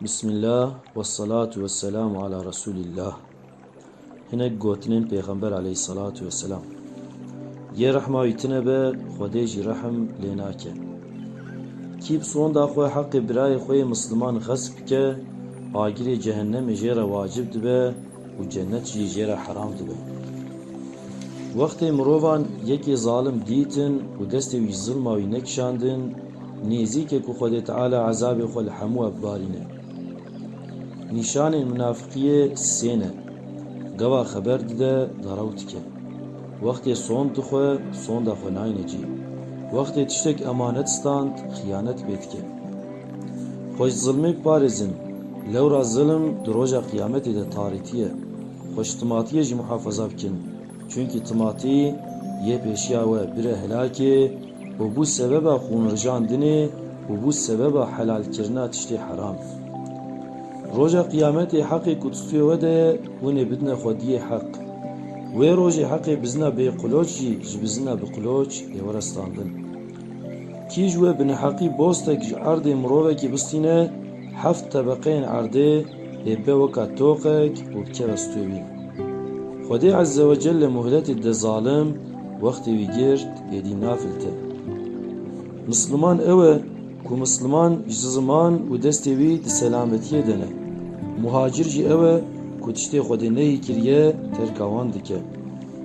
Bismillah wessalatu wesselamu ala Resûlillah Hinek gotinên Pêxember aleyhîssalatu wesselam Yê rehma wî tune be, Xwedê jî rehm lê nake. Kî bi sonda xwe heqê birayê xwe yê misliman xesp bike, agirê cehennemê jê re wacib dibe, Û cenet jî jê re heram dibe. Wextê mirovan yekê zalim dîtin û destê wî ji zilma wî nekişandin, nêzîk e ku Xwedê Teala ezabê xwe li hemû we bibarîne. Nîşanên minafiqiyê sê ne, gava xeber dide, derew dike. Wextê sond dixwe, sonda xwe nayne cî. Wextê tiştek emanet stand, xiyanet pê dike. Xwe ji zilmê biparêzin. Lewra zilm di roja qiyametê de tarîtî ye. Xwe ji timatiyê jî muhafaza bikin. Çunkî timatî yê pêşiya we bire helakê û bû sebeba xûnrijandinê û bû sebeba helalkirina tiştê heram. Roja qiyametê heqê ku di stûyê we de ye hûn ê bidine xwediyê heq. Wê rojê heqê bizina bêqloç jî ji bizina biqloç ê were standin. Kîj wê bineheqî bostek ji erdê mirovekî bistîne, heft tebeqeyên erdê ê be weka toqek û bikeve stûyê wî. Xwedê Ezzewecelle muhletê de zalim wextê wî girt êdî nafilite. Misliman ew e ku misliman ji ziman û destê wî di selametiyê de ne. Muhacir jî ew e ku tiştê Xwedê neyî kiriye terka wan dike.